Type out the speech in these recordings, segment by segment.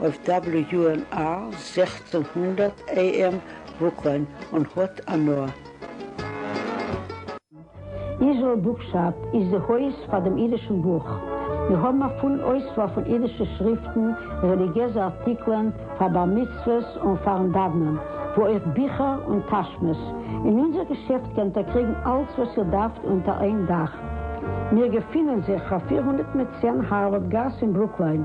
אויף WNR זעכצן הונדערט AM וואוקלען און האט הנאה. איזראעל בוקשאפ איז די הויז פאר דעם אידישן בוך. מיר האבן א פולן אויסוואל פון אידישע שריפטן, רעליגיעזע ארטיקלען פאר בר מצוות און פאר'ן דאוונען, וואו אויך ביכער און טאשמעס. אין אונזער געשעפט קענט איר קריגן אלץ וואס איר דארפט אונטער איין דאך. מיר געפינען זיך אויף פֿיר הונדערט צען הארווארד גאס אין ברוקליין.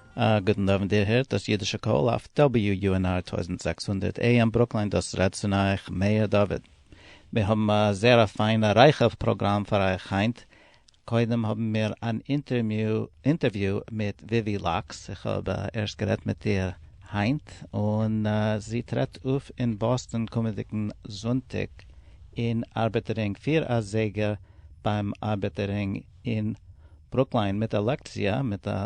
א גוטן אווענט איר הערט דאס אידישע קול אויף WUNR טויזנט זעקס הונדערט AM ברוקלין דאס רעדט צון אייך מאיר דוד. מיר האבן א זייער א פיינע רייכע פראגראם פאר אייך היינט, קודם האבן מיר אן אינטערוויו מיט וויווי לאקס, איך האב ערשט גערעדט מיט איר היינט, און זי טרעט אויף אין באסטאן קומענדיגן זונטאג אין ארבעטער רינג פֿיר אזייגער ביים ארבעטער רינג אין ברוקלין מיט א לעקציע מיט א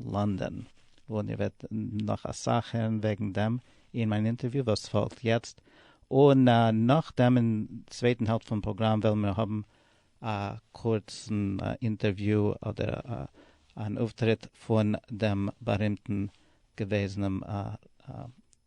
לאנדאן, און איר וועט נאך אסאך הערן וועגן דעם אין מיין אינטערוויו וואס פאלגט יעצט, און נאכדעם אין צווייטן העלפט פון פראגראם וועלן מיר האבן א קורצן אינטערוויו אדער אן אויפטריט פון דעם בארימטן געוועזענעם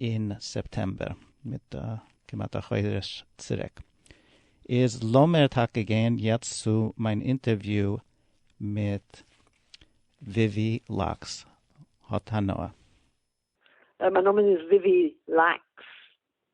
אין סעפטעמבער, מיט כמעט א חודש צוריק. איז לאמיר טאקע גיין יעצט צו מיין אינטערוויו מיט וויווי לאקס. האט הנאה. מיין נאמען איז וויווי לאקס,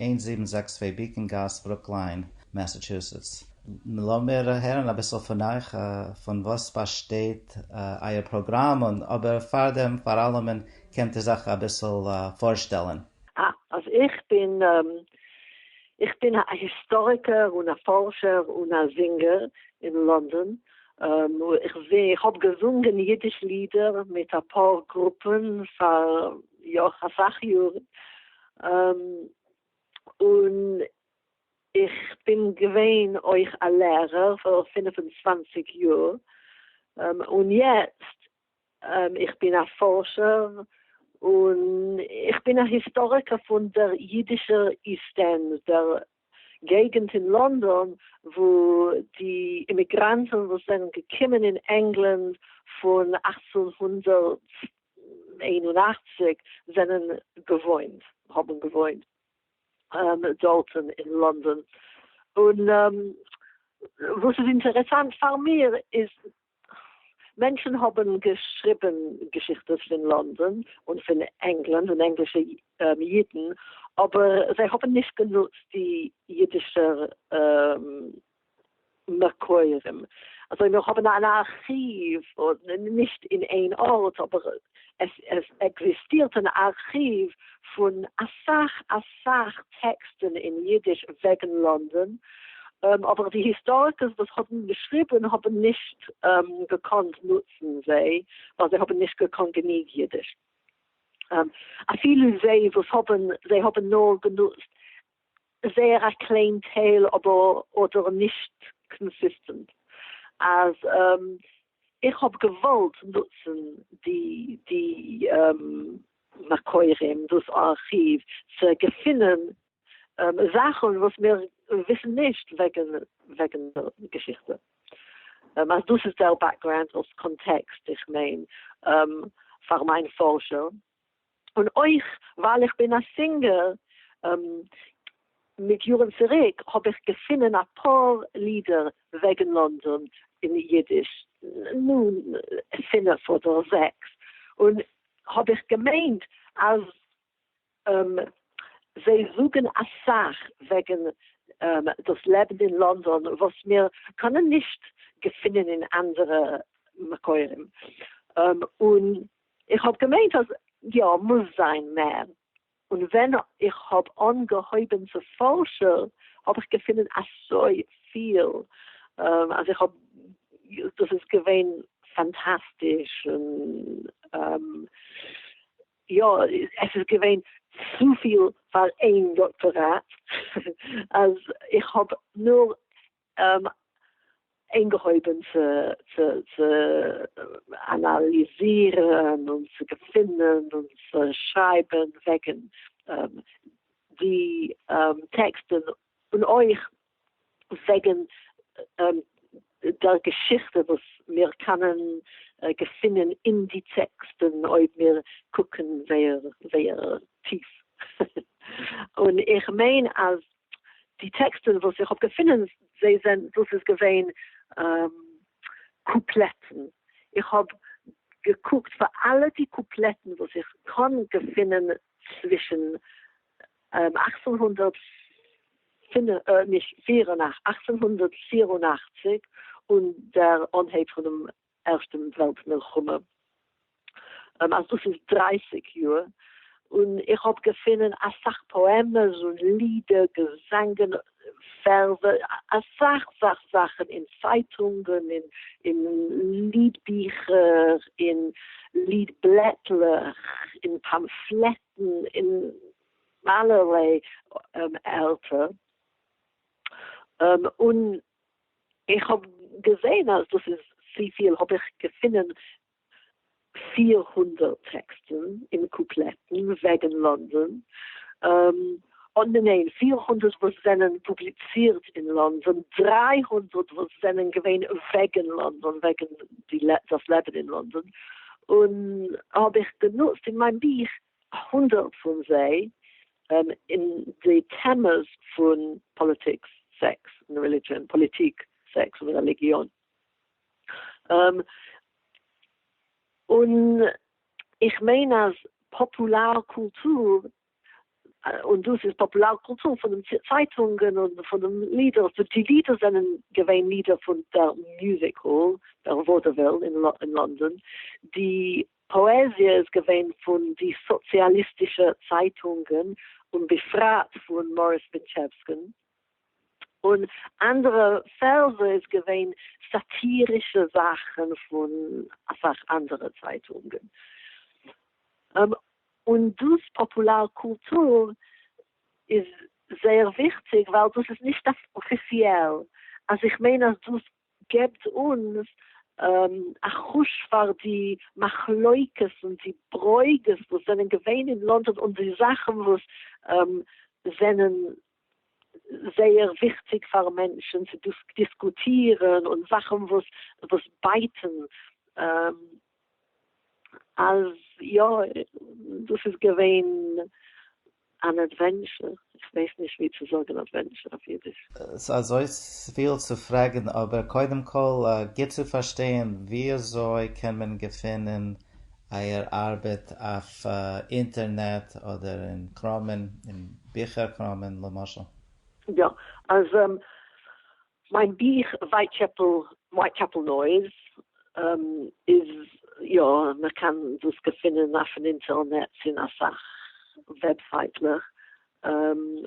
איין זיבן זעקס צוויי בעיקאן גאס ברוקליין מעסעטשוסעטס. לאמיר הערן אביסל פון אייך, פון וואס באשטייט אייער פראגראם, און אבער פאר דעם פאר אלעמען קענט איר זיך אביסל פארשטעלן. אה, אז איך בין, איך בין א היסטאריקער און א פארשער און א זינגער אין לאנדאן, איך האב געזונגען אידיש לידער מיט אפאר גרופען פאר יא אסאך יארן, און איך בין געווען אויך א לערער פאר פֿינף און צוואַנציק יאר, און יעצט איך בין א פארשער און איך בין א היסטאריקער פון דער אידישער איסט ענד, דער געגנט אין לאנדאן וואו די אימיגראנטן וואס זענען געקומען אין ענגלאנד פון אַכצן הונדערט איין און אַכציק זענען געוואוינט האבן געוואוינט דארטן אין לאנדאן און וואס איז אינטערעסאנט פאר מיר איז מענטשן האבן געשריבן געשיכטעס פון לאנדאן און פון ענגלאנד און ענגלישע אידן אבער זיי האבן נישט גענוצט די אידישע מקורים אזוי מיר האבן אן ארכיוו נישט אין איין ארט אבער עס עקזיסטירט אן ארכיוו פון אסאך אסאך טעקסטן אין אידיש וועגן לאנדאן, אבער די היסטאריקערס וואס האבן געשריבן האבן נישט געקאנט נוצן זיי, ווייל זיי האבן נישט געקאנט גענוג אידיש. אפילו זיי וואס האבן, זיי האבן נאר גענוצט זייער א קליין טייל אבער אדער נישט קאנסיסטענט אז איך האב געוואלט נוצן די די מקורים דאס ארכיוו צו געפינען זאכן וואס מיר וויסן נישט וועגן וועגן געשיכטע אז דאס איז דער בעקגראונד אלס קאנטעקסט איך מיין פאר מיין פארשער און אויך ווייל איך בין א סינגער, מיט יארן צוריק האב איך געפינען אפאר לידער וועגן לאנדאן אין אידיש, נו, פינף אדער זעקס, און האב איך געמיינט אז זיי זאגן אסאך וועגן דאס לעבן אין לאנדאן וואס מיר קענען נישט געפינען אין אנדערע מקורים, און איך האב געמיינט אז יא מוז זיין מער, און ווען איך האב אנגעהויבען צו פארשער האב איך געפינען אסוי פיל אז איך האב דאס איז געווען פאנטאסטיש און יא עס איז געווען צופיל פאר איין דאקטאראט אז איך האב נאר אנגעהויבן צו אנאליזירן און צו געפינען און צו שרייבן וועגן די טעקסטן און אויך וועגן דער געשיכטע וואס מיר קענען געפינען אין די טעקסטן אויב מיר קוקן זייער טיף, און איך מיין אז די טעקסטן וואס איך האב געפונען זיי זענען דאס איז געווען קופלעטן, איך האב געקוקט פאר אלע די קופלעטן וואס איך קען געפונען צווישן אַכצן הונדערט פֿינף, נישט, אַכצן הונדערט פֿיר און אַכציק און דער אנהייב פונעם ערשטע וועלט מלחמה, אז דאס איז דרייסיג יאר, און איך האב געפונען אסאך פאעמעס און לידער, געזאנגען, ווערסער, אסאך אסאך זאכן אין צייטונגען, אין ליד ביכער, אין ליד בלעטלעך, אין פאמפלעטן, אין אלערליי ערטער, און איך האב געזעהן אז דאס איז צופיל האב איך געפונען פֿיר הונדערט טעקסטן און קופלעטן וועגן לאנדאן, און ניין פֿיר הונדערט וואס זענען פובליצירט אין לאנדאן, דרײַ הונדערט וואס זענען געווען וועגן לאנדאן וועגן דאס לעבן אין לאנדאן, און האב איך גענוצט אין מיין בוך הונדערט פון זיי אין די טעמעס פון פאליטיקס, סעקס און רעלידזשען, פאליטיק, סעקס און רעליגיאן. און איך מיין אז פאפולאר קולטור, און דאס איז פאפולאר קולטור פון דעם צייטונגען און פון דעם לידער, וואס די לידער זענען געווען לידער פון דער מוזיק האל, דער וואדעוויל אין לאנדאן, די פאעזיע איז געווען פון די סאציאליסטישע צייטונגען און בפרט פון מאריס מיטשעווסקין, און אנדערע פערזע איז געווען סאטירישע זאכן פון אסאך אנדערע צייטונגען. און דאס פאפולאר קולטור איז זייער וויכטיג ווייל דאס איז נישט אפיציעל, אז איך מיין אז דאס סגעבט אונז א חוש פאר די מחלוקת און די ברוגז וואס זענען געווען אין לאנדאן און די זאכן וואס זענען זייער וויכטיג פאר מענטשן צו דיסקוטירן און זאכן וואס בייטן. אז יא, דאס איז געווען אן אדווענטשער, איך ווייס נישט ווי צו זאגן אדווענטשער אויף אידיש. ס'איז אזויפיל צו פרעגן, אבער קודם כל גוט צו פארשטיין, וויאזוי קען מען געפינען אייער ארבעט אויף אינטערנעט אדער אין קראמען, אין ביכער קראמען למשל? יא, אז מיין בוך ווייטשעפל Whitechapel Noise איז יא מען קען דאס געפינען אויפן אינטערנעץ אין אסאך וועבסייטלעך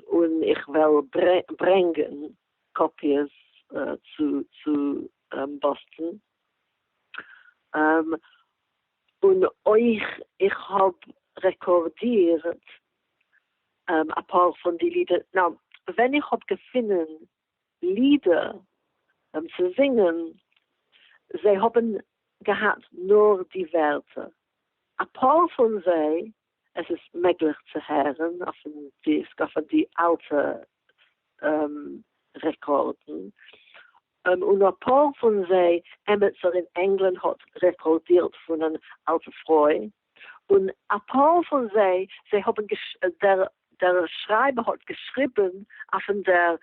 און איך וועל ברענגען קאפיעס צו באסטן און אויך איך האב רעקארדירט אפאר פון די לידער ווען איך האב געפינען לידער צו זינגען, זיי האבן געהאט נאר די ווערטער, אפאר פון זיי, עס איז מעגליך צו הערן אויפן דיסק, אויף די אלטע רעקארדן, און אפאר פון זיי, עמיצער אין ענגלאנד האט רעקארדירט פון אן אלטע פרוי, און אפאר פון זיי, זיי האבן געש. דער שרייבער האט געשריבן אויפן דער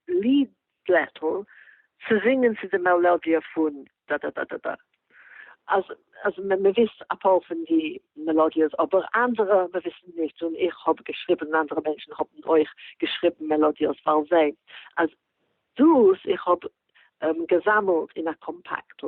ליד בלעטל צו זינגען צו די מעלאדיע פון דאדאדאדאדא. אז אז מען וויסט אפאר פון די מעלאדיעס אבער אנדערע מען וויסן נישט און איך האב געשריבן און אנדערע מענטשן האבן אויך געשריבן מעלאדיעס פאר זיי אז דאס איך האב געזאמעלט אין א קאמפאקטל.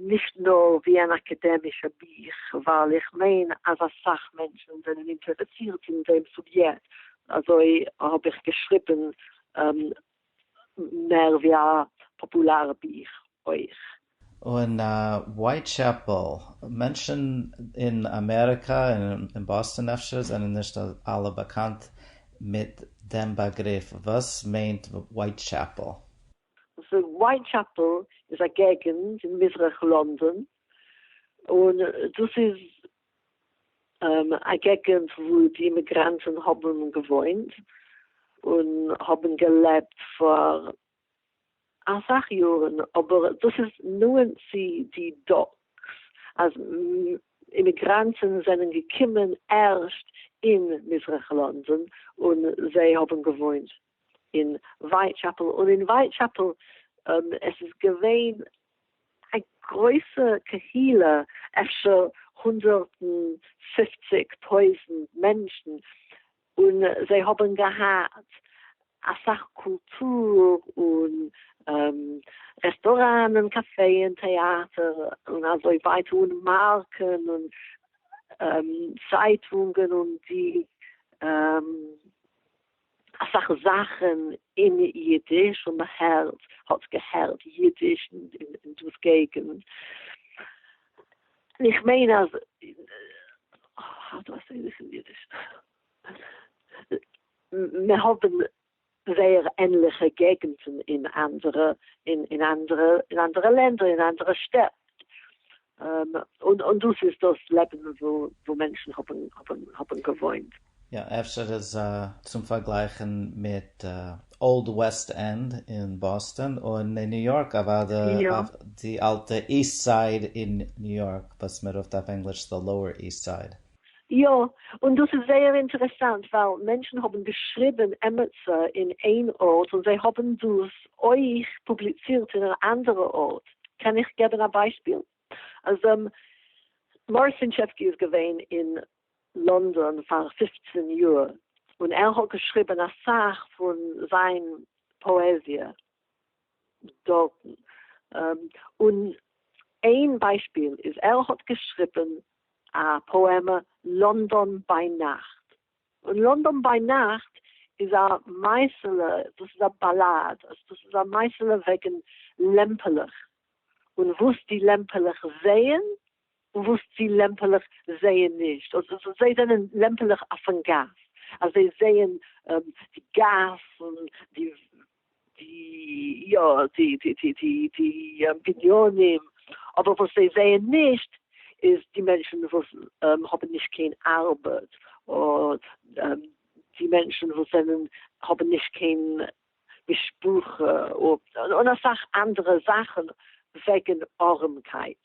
נישט נאר ווי אן אקעדעמישע בוך, ווייל איך מיין אז אסאך מענטשן זענען אינטערעסירט אין דעם סוביעקט, אזוי האב איך געשריבן מער ווי א פאפולארע בוך אויך. און ווייטשעפעל, מענטשן אין אמעריקא און אין באסטאן אפשר זענען נישט אלע באקאנט מיט דעם באגריף, וואס מיינט ווייטשעפעל? ווייטשעפעל איז א געגענט אין מזרח לאנדאן, און דאס איז א געגענט וואו די אימיגראנטן האבן געוואוינט און האבן געלעבט פאר אסאך יארן, אבער דאס איז נאענט צו די דאקס אז אימיגראנטן זענען געקומען ערשט אין מזרח לאנדאן און זיי האבן געוואוינט אין ווייטשעפעל און אין ווייטשעפעל עס איז געווען א גרויסע קהילה אפשר הונדערט און פופציג טויזענט מענטשן און זיי האבן געהאט אסאך קולטור און רעסטוראנען קאפעען טעאטער און אזוי ווייטער און מארקען און צייטונגען און די. אסאך זאכן אין אידיש און מען הערט האט געהערט אידיש אין דאס געגענט, איך מיין אז האו דו איי סעי דיס אין אידיש, מען האבן זייער ענליכע געגענטן אין אנדערע אין אנדערע לענדער אין אנדערע שטעט. און דאס איז דאס לעבן וואו מענטשן האבן געוואוינט. יא, אפשר איז צום פארגלייכן מיט אולד וועסט ענד אין באסטאן, און אין ניו יארק אוודאי די אלטע איסט סייד אין ניו יארק, וואס מען רופט אויף ענגליש The Lower East Side. יא, און דאס איז זייער אינטערעסאנט ווייל מענטשן האבן געשריבן עמעצער אין איין ארט און זיי האבן דאס אויך פובליצירט אין אן אנדערע ארט, קען איך געבן א ביישפיל אז מאריס פינטשעווקי איז געווען אין לאנדאן פאר פופצן יאר און ער האט געשריבן אסאך פון זיין פאעזיע, דארטן און איין ביישפיל איז ער האט געשריבן א פאעמע לאנדאן ביי נאכט און לאנדאן ביי נאכט איז א מעשה'לע דאס איז א באלאד דאס איז א מעשה'לע וועגן לעמפעלעך און וואס די לעמפעלעך זעען וואס די לעמפעלעך זעען נישט, און זיי זענען לעמפעלעך אויפן גאס, אז זיי זעען די גאס און די די יא די די די די די בנינים, אבער וואס זיי זעען נישט איז די מענטשן וואס האבן נישט קיין ארבעט, און די מענטשן וואס זענען האבן נישט קיין משפחה, און אסאך אנדערע זאכן וועגן ארעמקייט.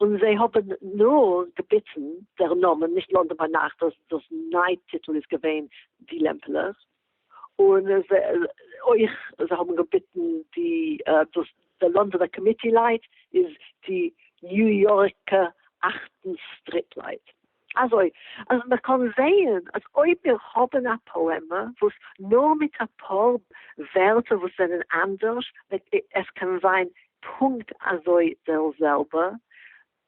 און זיי האבן נאר געביטן דער נאמען, נישט לאנדאן ביינאכט, דאס ניי טיטל איז געווען די לעמפלעך, און אויך זיי האבן געביטן די דאס די לאנדאנער קאמיטי לייט איז די ניו יארקע אכטן סטריט לייט, אזוי אז מען קען זעהן אז אויב מיר האבן א פאעמע וואס נאר מיט אפאר ווערטער וואס זענען אנדערש, עס קען זיין פונקט אזוי דער זעלבע,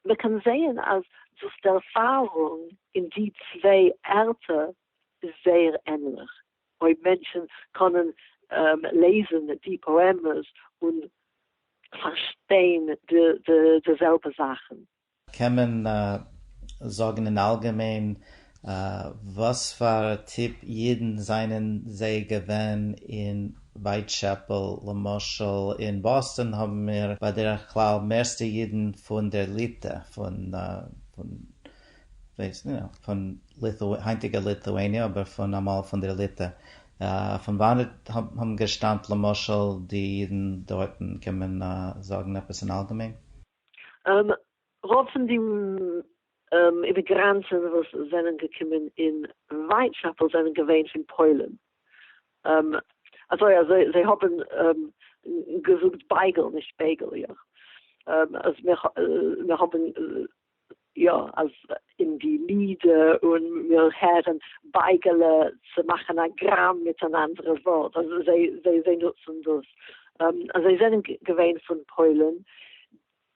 מען קען זעהן אז דאס ערפארונג אין די צוויי ערטער איז זייער ענליך, אויב מענטשן קענען לעזן די פאעמעס און פארשטיין די זעלבע זאכן. קען מען זאגן אין אלגעמיין וואס פאר א טיפ אידן זענען זיי געווען אין ווייטשעפעל? למשל אין באסטאן האבן מיר בדרך כלל מערסטע אידן פון דער ליטע, פון היינטיגע ליטואעניע אבער פון אמאל פון דער ליטע, פון וואנעט האבן געשטאמט למשל די אידן דארטן? קען מען זאגן עפעס אין אלגעמיין? רוב פון די אימיגראנטן וואס זענען געקומען אין ווייטשעפעל זענען געווען פון פוילן, אזוי אז זיי האבן געזאגט בייגל נישט בייגל, אז מיר האבן יא אז אין די לידער און מיר הערן בייגעלע צו מאכן א גראם מיט אן אנדערע ווארט אז זיי זיי זיי נוצן דאס אז זיי זענען געווען פון פוילן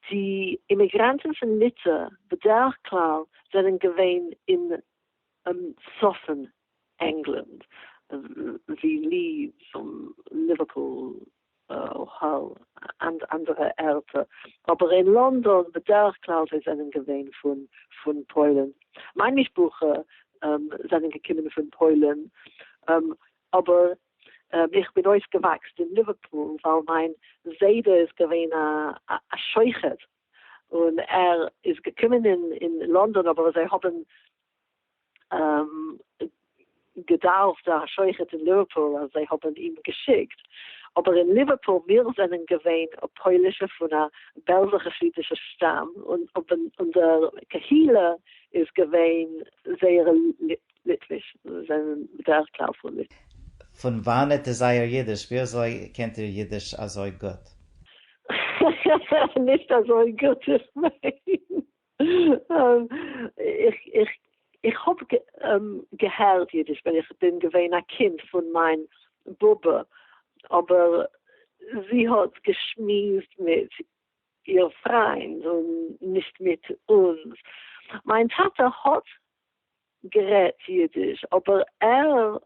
די אימיגראנטן פון ליטע בדרך כלל זענען געווען אין צפון ענגלאנד ווי לידס און ליווערפול. אוהעל און אנדערע ערטער, אבער אין לאנדאן בדרך כלל זיי זענען געווען פון פוילן, מיין משפחה זענען געקומען פון פוילן, אבער איך בין אויפגעוואקסט אין ליווערפול ווייל מיין זיידע איז געווען א שוחט און ער איז געקומען אין לאנדאן אבער זיי האבן געדארפט א שוחט אין ליווערפול אז זיי האבן אים געשיקט, אבער אין ליווערפול מיר זענען געווען פוילישע פון א בעלזע חסידישע שטאם און אונזער קהילה איז געווען זייער ליטוויש, זיי זענען בדרך כלל פון ליטא. פון וואנעט איז אייער אידיש? ווי אזוי קענט איר אידיש אזוי גוט? נישט אזוי גוט, איך מיין. איך איך איך האב געהערט אידיש ווען איך בין געווען א קינד פון מיין באבע, אבער זי האט געשמועסט מיט איר פריינד און נישט מיט אונז. מיין טאטע האט גערעדט אידיש אבער ער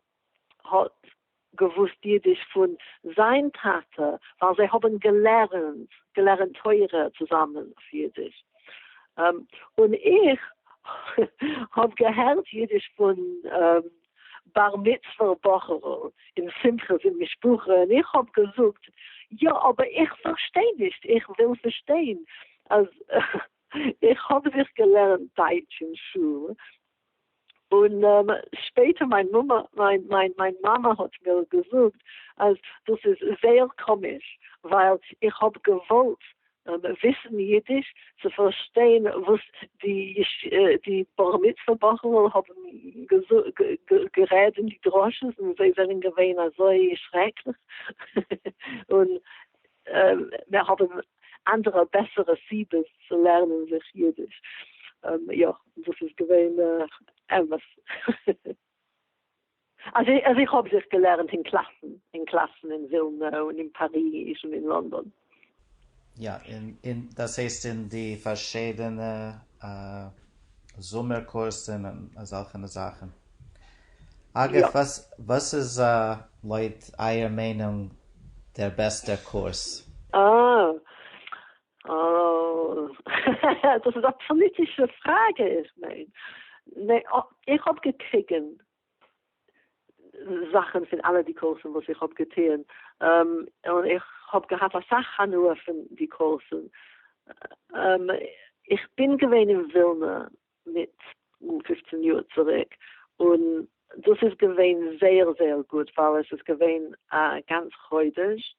האט געוואוסט אידיש פון זיין טאטע ווייל זיי האבן געלערנט געלערנט תורה צוזאמען אויף אידיש און איך האב געהערט אידיש פון בר מצוה בחור'ל און שמחות און משפחה און איך האב געזאגט יא אבער איך פארשטיי נישט איך וויל פארשטיין אז איך האב זיך געלערנט דייטש אין שול, און שפעטער מיין מומע מיין מיין מיין מאמע האט מיר געזאגט אז דאס איז זייער קאמיש, ווייל איך האב געוואלט וויסן אידיש צו פארשטיין וואס די די בר מצוה בחור'ל האבן גערעד אין די דרשות, און זיי זענען געווען אזוי שרעקליך, און מיר האבן אנדערע בעסערע סיבות צו לערנען זיך אידיש. יא, דאס איז געווען אמת. אז איך האב זיך געלערנט אין קלאסן, אין קלאסן אין ווילנע און אין פאריז און אין לאנדאן. יא, און דאס הייסט אין די פארשידענע זומער קורסן און אזעלכענע זאכן. אגב, וואס איז לויט אייער מיינונג דער בעסטער קורס? אה, אה, דאס איז א פאליטישע פראגע, איך מיין, איך האב געקריגען זאכען פון אלע די קורסען וואס איך האב געטוען, און איך האב געהאט אסאך הנאה פון די קורסען, איך בין געווען אין ווילנא מיט פופצן יאר צוריק, און דאס איז געווען זייער זייער גוט ווייל עס איז געווען א גאנץ חודש,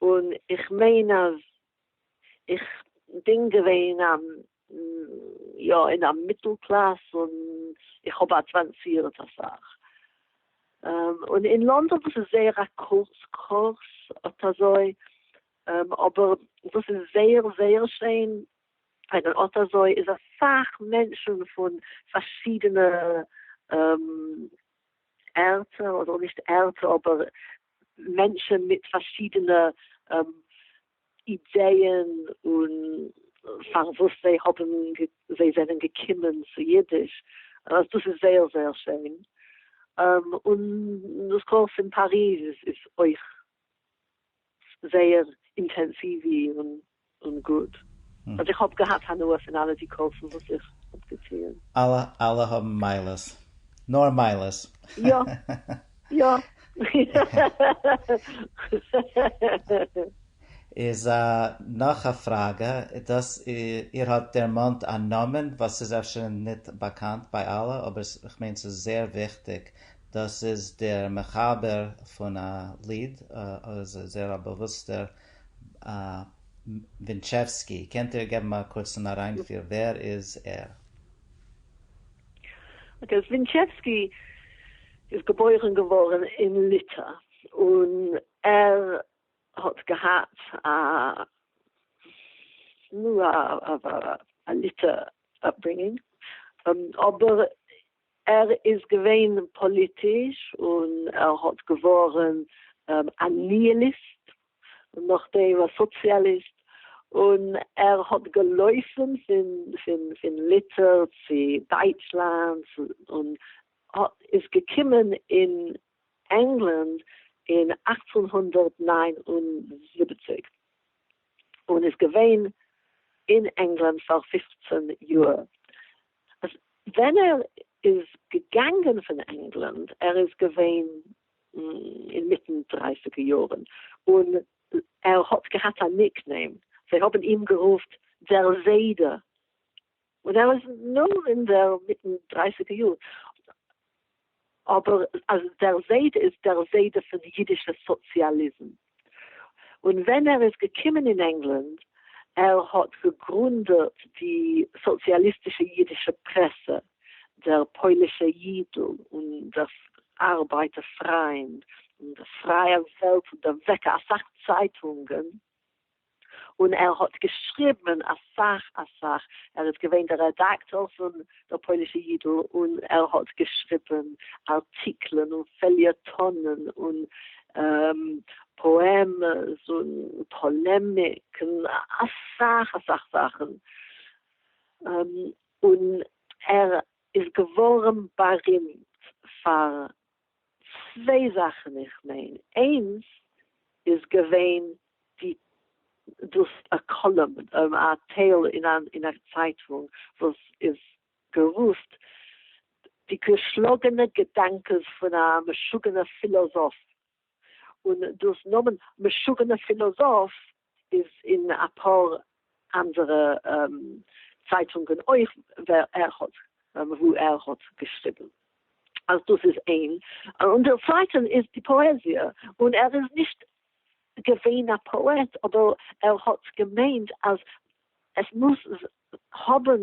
און איך מיין אז איך בין געווען א יא אין א מיטל קלאס און איך האב אדוואנסירט אסאך, און אין לאנדאן וואס איז זייער א קורץ קורס אט אזוי, אבער דאס איז זייער זייער שיין און אט אזוי איז אסאך מענטשן פון פארשידענע ערטער, אדער נישט ערטער אבער מענטשן מיט פארשידענע אידעען און פארוואס זיי האבן זיי זענען געקומען צו אידיש, אז דאס איז זייער זייער שיין, און דאס קול פון פאריז איז אויך זייער אינטענסיווי און גוט, אז איך האב געהאט הנאה פון אלע די קורסן וואס איך האב געטוען. אלע האבן מעלות. נאר מעלות. יא. יא. איז נאך א פראגע, דאס איר האט דערמאנט א נאמען וואס איז אפשר ניט באקאנט ביי אלע, אבער כ'מיין ס'איז זייער וויכטיג. דאס איז דער מחבר פון א ליד, איז ער זייער א באוואוסטער ווינטשעווסקי, קענט איר געבן א קורצן אריינפיר ווער איז ער? אקעי, אז ווינטשעווסקי איז געבוירן געווארן אין ליטא, און ער האט געהאט א נו א ליטא אפברינגינג, אבער ער איז געווען פאליטיש און ער האט געווארן א ניהיליסט און נאכדעם א סאציאליסט, און ער האט געלויפן פון ליטער צו דייטשלאנד און איז געקומען אין ענגלאנד אין אַכצן הונדערט נײַן און זיבעציק און איז געווען אין ענגלאנד פאר פֿופֿצן יאר. אז ווען ער איז געגאנגען פון ענגלאנד, ער איז געווען אינמיטן דרייסיגע יארן, און ער האט געהאט א ניק נעים, זיי האבן אים גערופט דער זיידע, און ער איז נאר אינמיטן דרייסיגע יאר, אבער אז דער זיידע איז דער זיידע פון אידישע סאציאליזם, און ווען ער איז געקומען אין ענגלאנד, ער האט געגרונדעט די סאציאליסטישע אידישע פרעסע, דער פוילישע אידל, און דער ארבייטער פריינד, און דער פרייער וועלט, און דערוועקער, אסאך צייטונגען. און ער האט געשריבן אסאך אסאך, ער איז געווען דער רעדאקטאר פון דער פוילישע אידל, און ער האט געשריבן ארטיקלען און פעליעטאנען און פאעמעס און פאלעמיק און אסאך אסאך זאכן, און ער איז געווארן בארימט פאר צוויי זאכן איך מיין, איינס איז געווען די דאס א קאלום א טייל אין א אין א צייטונג וואס איז גערופט די געשלאגענע געדאנקעס פון א משוגענע פילאזאף און דאס נאמען משוגענע פילאזאף איז אין אפאר אנדערע צייטונגען אויך ווער ער האט וואו ער האט געשריבן אז דאס איז אין און דער צווייטער איז די פאעזיע און ער איז נישט געווען א פאעט אבער ער האט געמיינט אז עס מוז האבן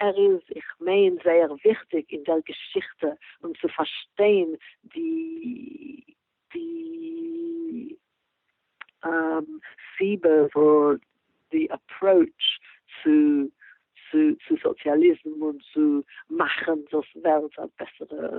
ער איז איך מיין זייער וויכטיג אין דער געשיכטע און צו פארשטיין די די סיבה וואס די אפראוטש צו צו סאציאליזם און צו מאכן דאס וועלט א בעסערע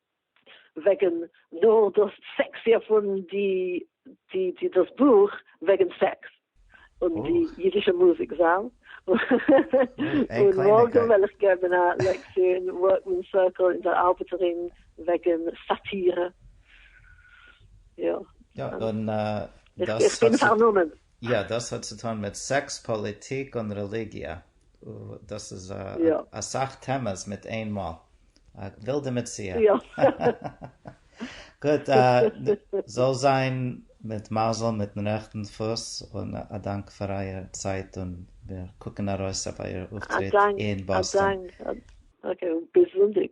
וועגן נאר דאס סעקסיע פון די די די דאס בוך וועגן סעקס און די אידישע מוזיק זאל. און מארגן וועל איך געבן א לעקציע אין ווארקמען סערקל אין דער אלבערט רינג וועגן סאטירע. יא. יא, און דאס האט זיך. איך בין פארנומען. יא, דאס האט צו טון מיט סעקס, פאליטיק און רעליגיע. דאס איז אסאך טעמעס מיט איין מאל. א ווילדע מציאה. גוט, זאל זיין מיט מזל מיטן רעכטן פוס, און א דאנק פאר אייער צייט און מיר קוקן ארויס אויף אייער אויפטריט אין באסטאן. א דאנק. אקעי, ביז זונטאג.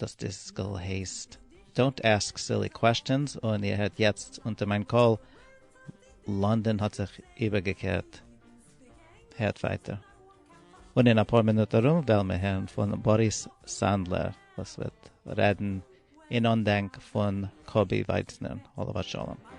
דאס דיסקל הייסט Don't Ask Silly Questions און איר הערט יעצט אונטער מיין קול לאנדאן האט זיך איבערגעקערט. הערט ווייטער. און אין אפאר מינוט ארום וועלן מיר הערן פון באריס סאנדלער וואס וועט רעדן אין אנדענק פון קובי ווייצנער עליו השלום.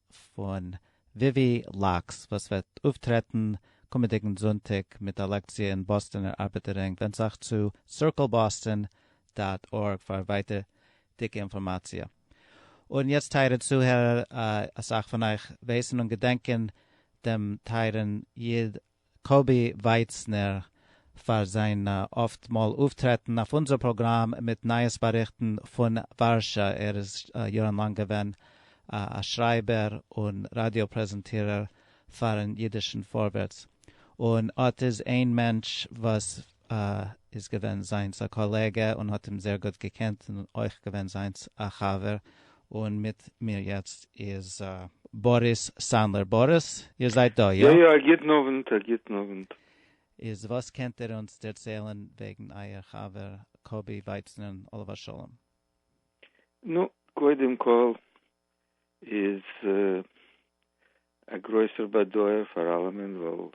פון וויווי לאקס וואס וועט אויפטרעטן קומענדיגן זונטאג מיט א לעקציע אין באסטאנער ארבעטערינג ווענד זיך צו CircleBoston דאט ארג פאר ווייטערדיגע אינפארמאציע. און יעצט טייערע צוהערער, אסאך פון אייך ווייסן און געדענקען דעם טייערן איד קאבי ווייצנער פאר זיין אפט מאל אויפטרעטן אויף אונזער פראגראם מיט נייעס באריכטן פון ווארשא, ער איז יארן לאנג געווען א שרייבער און ראדיא פרעזענטירער פארן אידישן פארווערטס, און אט איז איין מענטש וואס א איז געווען זיינס א קאלעגע און האט אים זעהר גוט געקענט און אויך געווען זיינס א חבר, און מיט מיר יעצט איז. באריס סאנדלער, באריס, איר זייט דא, איא? יא יא, א גוטן אוונט, א גוטן אוונט. איז וואס קענט איר אונז דערציילן וועגן אייער חבר קובי ווייצנען עליו השלום? נו, קודם כל איז א גרויסער באדויער פאר אלעמען ווייל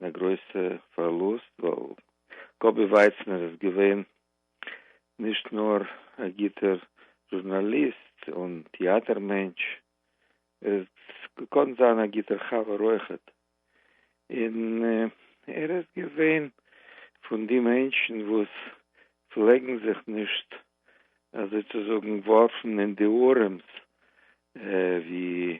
און א גרויסע פארלוסט ווייל קאבי ווייצנער איז געווען נישט נאר א גוטער זשורנאליסט און טיאטער מענטש ער איז געקאנט זיין א גוטער חבר אויכעט און ער איז געווען פון די מענטשן וואס פלעגן זיך נישט אזוי צו זאגן ווארפן אין די ארעמס ווי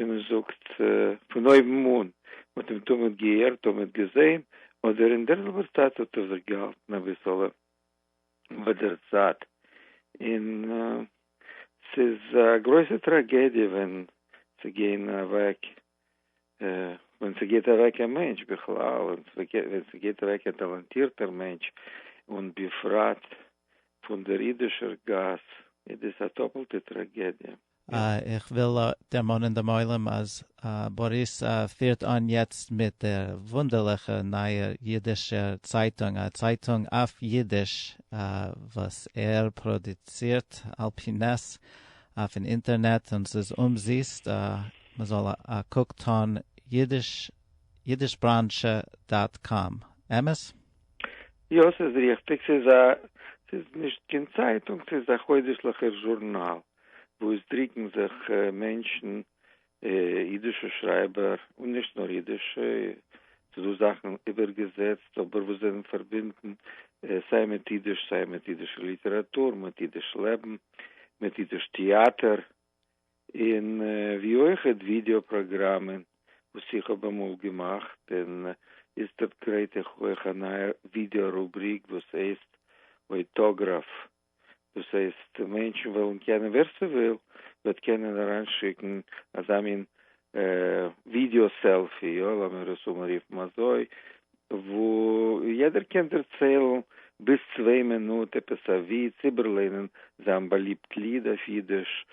ווי מען זאגט פון אויבן אן, מען האט אים תמיד געהערט, תמיד געזען, אדער אין דער זעלבער צייט האט ער זיך געהאלטן אביסעלע ביי דער צייט, און ס'איז א גרויסע טראגעדיע ווען ס'גייען אוועק, ווען ס'גייט אוועק א מענטש בכלל, און ווען ס'גייט אוועק א טאלאנטירטער מענטש, און בפרט פון דער אידישער גאס, איז דאס א דאפלטע טראגעדיע. איך וויל דערמאנען דעם עולם אז באריס פירט אן יעצט מיט דער וואונדערליכע נייער אידישער צייטונג, א צייטונג אויף אידיש וואס ער פראדוצירט על פי נס אויפן אינטערנעט און ס'איז אומזיסט, מען זאל א קוק טאן אידיש אידישבראנטשע דאט קאם, אמת? יא ס'איז ריכטיג, ס'איז נישט קיין צייטונג, ס'איז א חודש'ליכער זשורנאל. וואו עס דרוקן זיך מענטשן, אידישע שרייבער, און נישט נאר אידישע, ס'איז דא זאכן איבערגעזעצט אבער וואס זענען פארבינדן סיי מיט אידיש סיי מיט אידישע ליטעראטור, מיט אידיש לעבן, מיט אידיש טעאטער, און ווי אויכעט ווידעא פראגראמען וואס איך האב אמאל געמאכט, און איצטערט גרייט איך אויך א נייע ווידעא רובריק וואס הייסט אויטאגראף דאס הייסט מענטשן וועלן קענען ווער ס'וויל וועט קענען אריינשיקן אזא מין ווידעא סעלפי, יא לאמיר עס אנרופן אזוי, וואו יעדער קען דערציילן ביז צוויי מינוט עפעס א וויץ, איבערלערנען זיין באליבט ליד אויף אידיש,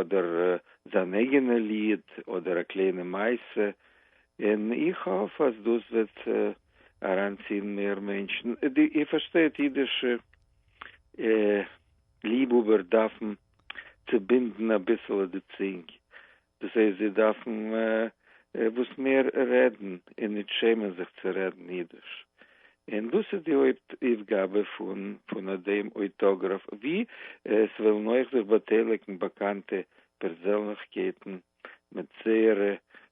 אדער זיין אייגענע ליד, אדער א קליינע מעשה, און איך האף אז דאס וועט אריינציען מער מענטשן, איר פארשטייט אידישע ליבהאבער דארפן צובינדן אביסעלע די צינג, דאס הייסט זיי דארפן וואס מער רעדן און נישט שעמען זיך צו רעדן אידיש, און דאס איז די הויפט אויפגאבע פון פון דעם אויטאגראף, ווי עס וועלן אויך זיך באטייליגן באקאנטע פערזענליכקייטן מיט זייערע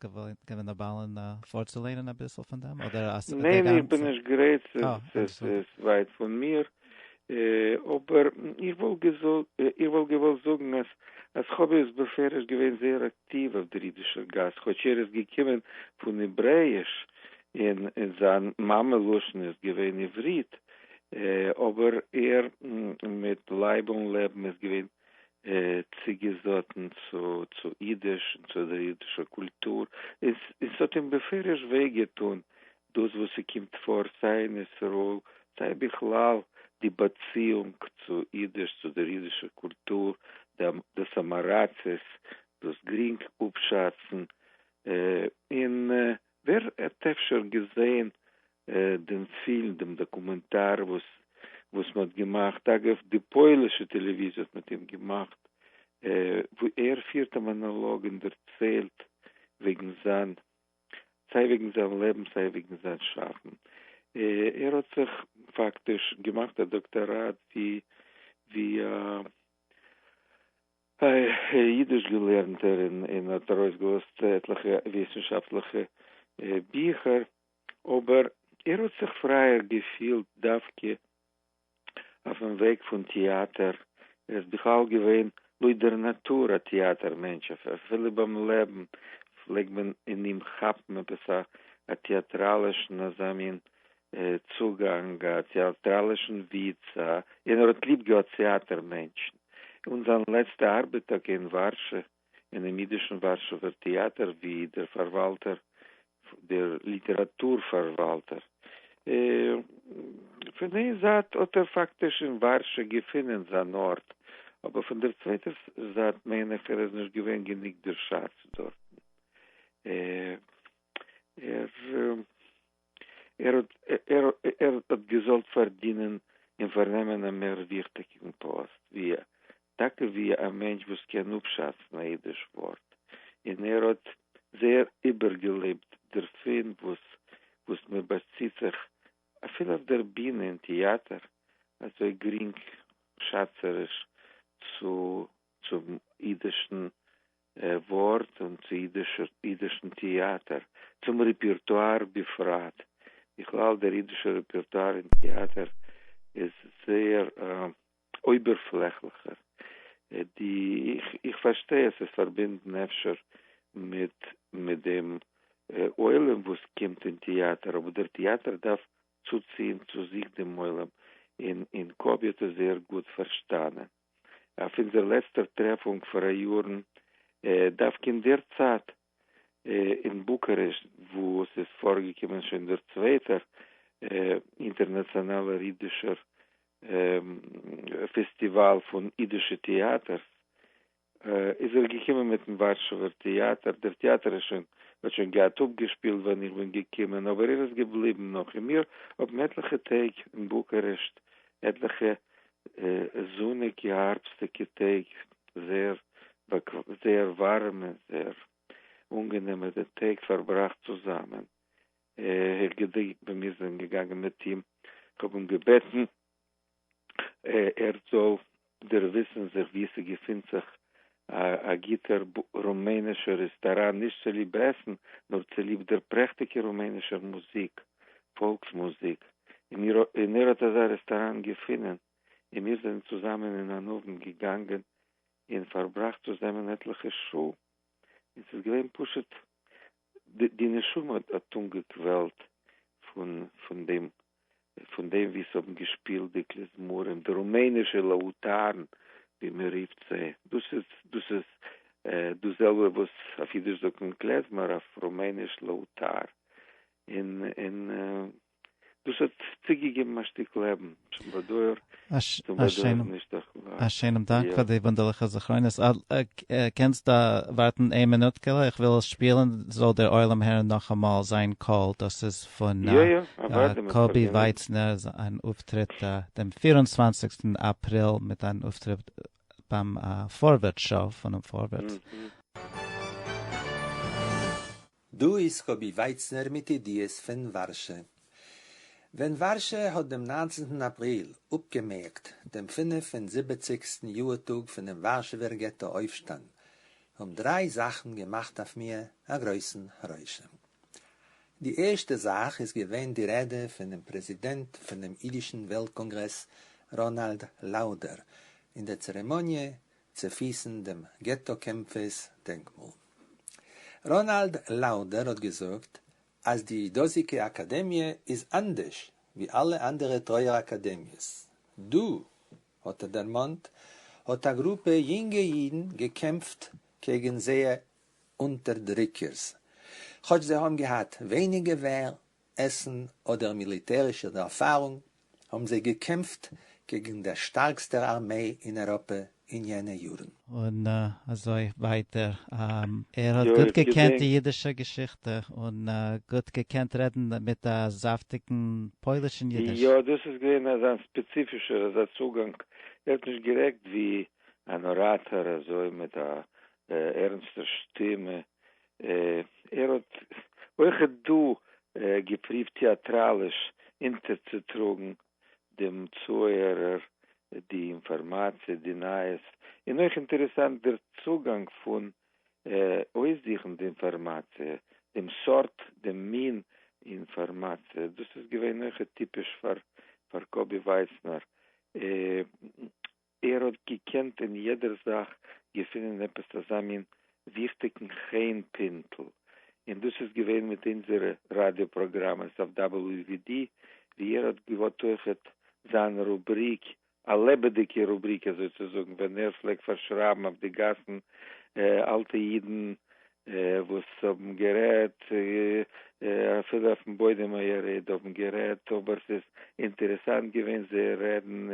געווען א בעל און פארצולערנען אביסל פון דעם אדער אז די גאנצע. ניין איך בין נישט גרייט ס'איז ווייט פון מיר אבער איך וואלט געוואלט זאגן אז חב ד איז בפירוש געווען זייער אקטיוו אויף דער אידישער גאס כאטש ער איז געקומען פון העברעאיש און זיין מאמע לשון איז געווען עברית אבער ער מיט לייב און לעבן איז געווען צוגעזאטן צו צו אידיש און צו דער אידישער קולטור, און און ס'האט אים בפירוש וויי געטון דאס וואס ס'קומט פאר סיי אין ישראל, סיי בכלל די באציאונג צו אידיש, צו דער אידישער קולטור, דאס אמעראצעס, דאס גרינג אפשאצן, און ווער האט אפשר געזען דעם פילם, דעם דאקומענטאר וואס וואס מען האט געמאכט, אגב די פוילישע טעלעוויזיע האט מיט אים געמאכט, וואו ער פירט א מאנאלאג און דערציילט וועגן זיין, סיי וועגן זיין לעבן סיי וועגן זיין שאפן. ער האט זיך פאקטיש געמאכט א דאקטאראט ווי ווי א אידיש געלערנטער און האט ארויסגעלאזט עטליכע וויסנשאפטליכע ביכער. אבער ער האט זיך פרייער געפילט דווקא אויפן וועג פון טיאטער, ער איז בכלל געווען לויט דער נאטור א טיאטער מענטש, אפילו ביים לעבן פלעגט מען אין אים כאפן עפעס א טיאטראלישן אזא מין צוגאנג, א טיאטראלישן וויץ, און ער האט ליב געהאט טיאטער מענטשן, און זיין לעצטע ארבעט טאקע אין ווארשע אינעם ייִדישן וואַרשעווער טעאַטער ווי דער פֿאַרוואַלטער, דער ליטעראַטור-פֿאַרוואַלטער. פֿון איין זײַט האָט ער פֿאַקטיש אין וואַרשע געפֿונען זײַן אָרט, אָבער פֿון דער צווייטער זײַט מיין איך, ער איז נישט געווען גענוג דערשאַצט דאָרטן. ער. ער האט געזאלט פארדינען און פארנעמען א מער וויכטיגן פאסט ווי טאקע ווי א מענטש וואס קען אפשאצן א אידיש ווארט, און ער האט זייער איבערגעלעבט דערפון וואס מען באציט זיך אפילו אויף דער בינע אין טעאטער אזוי גרינגשאצעריש צום אידישן ווארט און צו אידישן טעאטער, צום רעפּערטואַר בפרט. בכלל דער אידישער רעפּערטואַר אין טעאטער איז זייער אויבערפלעכליכער. איך פארשטיי אז ס'איז פארבינדן אפשר מיט דעם עולם וואס קומט אין טעאטער, אבער דער טעאטער דארף צוציען צו זיך דעם עולם, און קאבי האט עס זייער גוט פארשטאנען. אויף אונזער לעצטער טרעפונג פאראיארן דווקא אין דער צייט אין בוקארעשט וואו עס איז פארגעקומען שוין דער צווייטער אינטערנאציאנאלער אידישער פעסטיוואל פון אידישע טעאטערס איז ער געקומען מיטן ווארשעווער טעאטער, דער טעאטער איז שוין האט שוין געהאט אפגעשפילט ווען איך בין געקומען אבער ער איז געבליבן נאך און מיר האבן עטליכע טעג אין בוקארעשט עטליכע זוניגע הארבסטיגע טעג, זייער זייער ווארעמע זייער אנגענעמע די טעג פארבראכט צוזאמען, איך געדענק ווען מיר זענען געגאנגען מיט אים, איך האב אים געבעטן ער זאל דערוויסן זיך ווי ס'געפינט זיך א גוטער רומענישער רעסטאראן נישט צוליב עסן נאר צוליב דער פרעכטיגער רומענישער מוזיק, פאלקס מוזיק, און ער האט אזא רעסטאראן געפונען און מיר זענען צוזאמען אין אן אוונט געגאנגען און פארבראכט צוזאמען עטליכע שעה און ס'איז געווען פשוט די נשמה האט אנגעקוועלט פון דעם ווי ס'האבן געשפילט די כליזמרים, די רומענישע לאוטארן ווי מ'רופט זיי, דאס איז דאס זעלבע וואס אויף אידיש זאגט מען קלעזמער אויף רומעניש לאוטאר, און דאס האט צוגעגעבן א שטיק לעבן צום באדויער, צום באדויער נישט א כלל. א שענעם דאנק פאר די וואונדערליכע זכרונות. קענסט ווארטן איין מינוטקעלע, איך וויל עס שפילן זאל דער עולם הערן נאכאמאל זיין קול, דאס איז פון קאבי ווייצנער אן אויפטריט דעם פֿיר און צוואַנציק אפריל מיט אן אויפטריט ביים פארווערטס שאו פונעם פארווערטס. דא איז קובי ווייצנער מיט ידיעות פון ווארשע. ווען ווארשע האט דעם ניינצנטן אפריל אפגעמערקט דעם פֿינף און זיבעציקסטן יאהר טאג פונעם ווארשעווער געטא אויפשטאנד, האבן דריי זאכן געמאכט אויף מיר א גרויסן רושם. די ערשטע זאך איז געווען די רעדע פונעם פרעזידענט פונעם אידישן וועלט קאנגרעס ראנאלד לאודער, אין דער צערעמאניע צופיסן דעם געטא קעמפערס דענקמאל. ראנאלד לאודער האט געזאגט אז די דאזיגע אקאדעמיע איז אנדערש ווי אלע אנדערע טרויער אקאדעמיעס דא, האט ער דערמאנט, האט א גרופע יונגע אידן געקעמפט קעגן זייער אונטערדריקערס כאטש זיי האבן געהאט ווייניג געווער עסן אדער מיליטערישע ערפארונג, האבן זיי געקעמפט קעגן דער שטארקסטער ארמעי אין אייראפע אין יענע יארן. און אזוי ווייטער. ער האט גוט געקענט די אידישע געשיכטע, און גוט געקענט רעדן מיט א זאפטיגן פוילישן אידיש. יא, דאס איז געווען אזא ספעציפישער אזא צוגאנג, ער האט נישט גערעדט ווי אן אראטאר אזוי מיט א ערנסטער שטימע, ער האט אויך דא געפריווט טעאטראליש אונטערצוטראגן דעם צוהערער די אינפארמאציע, די נייעס, און אויך אינטערעסאנט דער צוגאנג פון אויסזוכן די אינפארמאציע, דעם סארט, דעם מין אינפארמאציע, דאס איז געווען אויך טיפיש פאר קאבי ווייסנער. ער האט געקענט אין יעדער זאך געפינען עפעס אזא מין וויכטיגן חן פינטל, און דאס איז געווען מיט אונזערע ראדיא פראגראמעס אויף WVD, ווי ער האט געהאט אויכעט זיין רובריק, א לעבעדיגע רובריק אזוי צו זאגן, ווען ער פלעגט פארשרייבן אויף די גאסן אלטע אידן וואס האבן גערעדט, אפילו אויפן בוידעם היריד האבן גערעדט, אבער ס'איז אינטערעסאנט געווען זייער רעדן,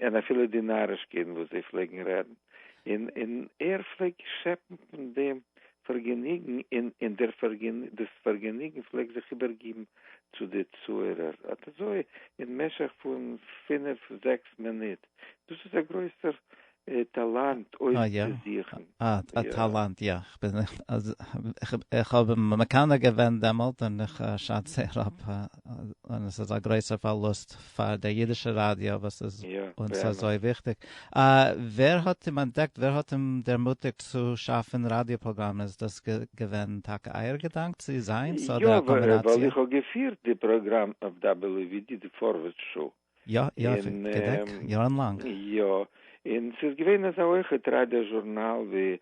און אפילו די נארישקייטן וואס זיי פלעגן רעדן, און ער פלעגט שעפן פון דעם פארגעניגן, און דאס פארגעניגן פלעגט זיך איבערגיבן צו די צוהערער, אט אזוי אין משך פון פינף זעקס מינוט, דאס איז א גרויסער טאלאנט אויפצוזוכן. אה, א טאלאנט, יא. איך האב אים מקנא געווען דעמאלט און איך שאץ זייער אפ, און עס איז א גרויסער פארלוסט פאר דער אידישער ראדיא וואס איז אונז אזוי וויכטיג. ווער האט אים אנטדעקט? ווער האט אים דערמוטיגט צו שאפן ראדיא פראגראמען? איז דאס געווען טאקע אייער געדאנק צו זיינס אדער א קאמבינאציע? יא, ווייל איך האב געפירט די פראגראם אויף WVD, די פארווערטס שאו. יא יא איך געדענק יארן לאנג. יא און ס'איז געווען אזא הויכע טריידער זשורנאל ווי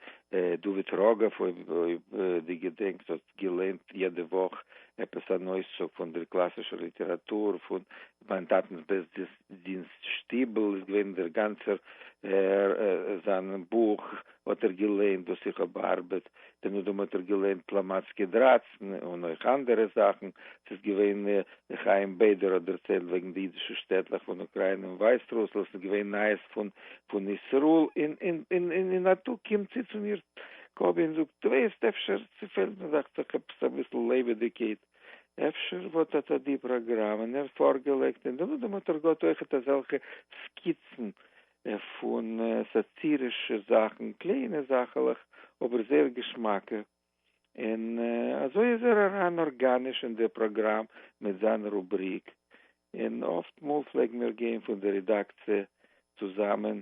דוד רגב אויב די געדענקסט האט געליינט יעדע וואך עפעס אן אויסצוג פון דער קלאסישער ליטעראטור פון מיין טאטנס בית דינסט שטיבל איז געווען דער גאנצער זיין בוך האט ער געליינט וואס איך האב בארבעט, בן אדם האט ער געליינט פלאמאצקי דרײַצן און אויך אנדערע זאכן, ס'איז געווען חיים בעדער האט דערציילט וועגן די אידישע שטעטלעך פון אוקריינע און ווייסרוסלאנד, ס'איז געווען נייעס פון פון ישרא-ל, און א טאג קומט צו צו מיר קאבי און זאגט, דו וועסט אפשר, ס'פעלט מיר דאכט זיך עפעס אביסל לעבעדיגקייט, אפשר וואט אט די פראגראם, און ער פארגעלייגט, און בן אדם האט ער געהאט אויכעט אזעלכע סקיצן און פון סאטירישע זאכן, קליינע זאכעלעך אבער זייער געשמאקע, און אזוי איז ער אריין ארגאניש אין די פראגראם מיט זיין רובריק, און אפט מאל פלעגן מיר גיין פון די רעדאקציע צוזאמען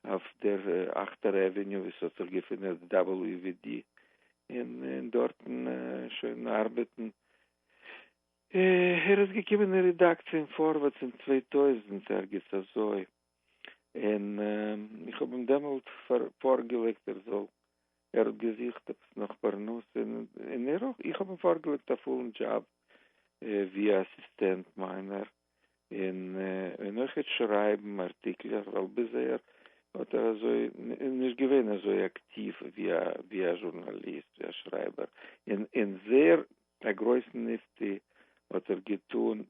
אויף דער אכטער עוועניו ווי ס'האט זיך געפינען די WVD, און דארטן שוין ארבעטן. ער איז געקומען אין רעדאקציע אין פארווערטס אין צוויי טויזנט, ערגעץ אזוי. און איך האב אים דעמאלט פארגעלייגט ער זאל, ער האט געזוכט עפעס נאך פרנסה, און ער אויך, איך האב אים פארגעלייגט א פולן דזשאב ווי א אסיסטענט מיינער, און אויכעט שרייבן ארטיקלעך, ווייל ביזהער האט ער אזוי נישט געווען אזוי אקטיוו ווי א ווי א זשורנאליסט, ווי א שרייבער, און זעהר א גרויסן נפתי האט ער געטון.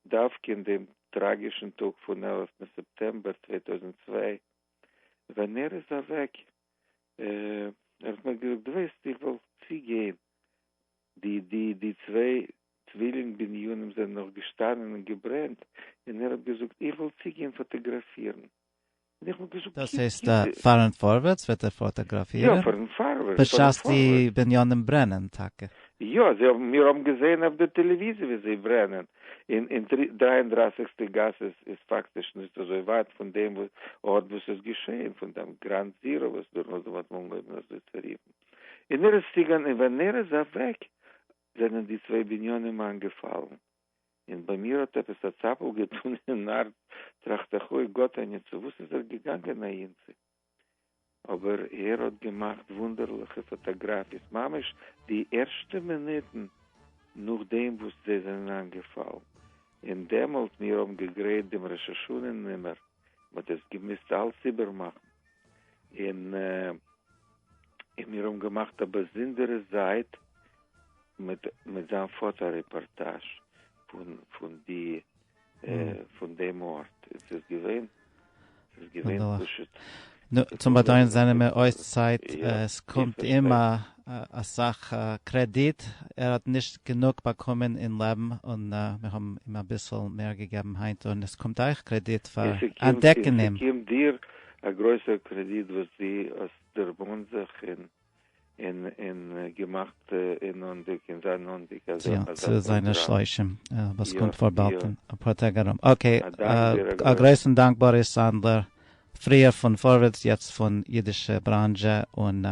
דווקא אין דעם טראגישן טאג פון עלף ם סעפטעמבער צוויי טויזנט צוויי ווען ער איז אוועק, ער האט מיר געזאגט וועסט איך וועל צוגיין די די די צוויי צווילינג בנינים זענען נאך געשטאנען און געברענט, און ער האט געזאגט איך וועל צוגיין פאטאגראפירן. דאס הייסט פארן פארווערטס וועט ער פאטאגראפירן בשעת די בנינים ברענען טאקע? יא, מיר האבן געזען אויף די טעלעוויזיע ווי זיי ברענען, און דרײַ און דרײַסיק טע גאס איז פאקטיש נישט אזוי ווייט פון דעם ארט וואו ס'איז געשען, פון דעם גראונד זירא וואס דער נאדעם האט אנגעהויבן אזוי צו רופן, און ער איז צוגעגאנגען און ווען ער איז אוועק זענען די צוויי בנינים איינגעפאלן. און ביי מיר האט עפעס א צאפל געטון אין הארץ, טראכט איך אוי גאט אניע צו וואס איז ער געגאנגען אהין צו? אבער ער האט געמאכט וואונדערליכע פאטאגראפיס ממש די ערשטע מינוטן נאכדעם וואס זיי זענען איינגעפאלן, און דעמאלט מיר האבן געגרייט דעם ראש השנה נומער. מ'האט דאס געמוזט אלס איבערמאכן, און מיר האבן געמאכט א באזונדערע זייט מיט מיט זיין פאטא רעפארטאזש פון פון די פון דעם ארט, עס איז געווען עס איז געווען פשוט נו, צום באדויען זענען מיר אויס צייט, עס קומט אים אסאך קרעדיט, ער האט נישט גענוג באקומען אין לעבן און מיר האבן אים אביסל מער געגעבן היינט און עס קומט אייך קרעדיט פאר אנטדעקן אים. עס קומט דיר א גרויסער קרעדיט וואס דו האסט דערמאנט זיך און. און און געמאכט אינאיינדיג און זיינאנדיג אזא אזא פראגראם. צו זיינע שלושים וואס קומט פאר באלד אין אפאר טעג ארום. אקעי, א גרויסן דאנק באריס סאנדלער, פריער פון פארווערטס יעצט פון אידישע בראנזשע, און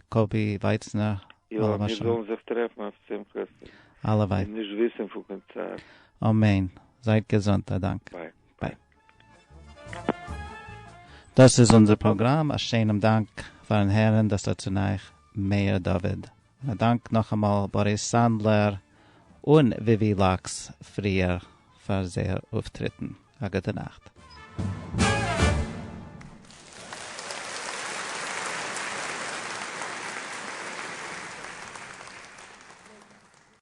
קאבי ווייצנער. יא, מיר זאלן זיך טרעפן אויף שמחות און נישט וויסן פון קיין צער. אמן, זייט געזונט, א דאנק. ביי. ביי. דאס איז אונזער פראגראם, א שענעם דאנק פארן הערן דאס לצנך מאיר דוד, און א דאנק נאכאמאל באריס סאנדלער און וויווי לאקס פריער פאר זייער אויפטריטן. א גוטע נאכט.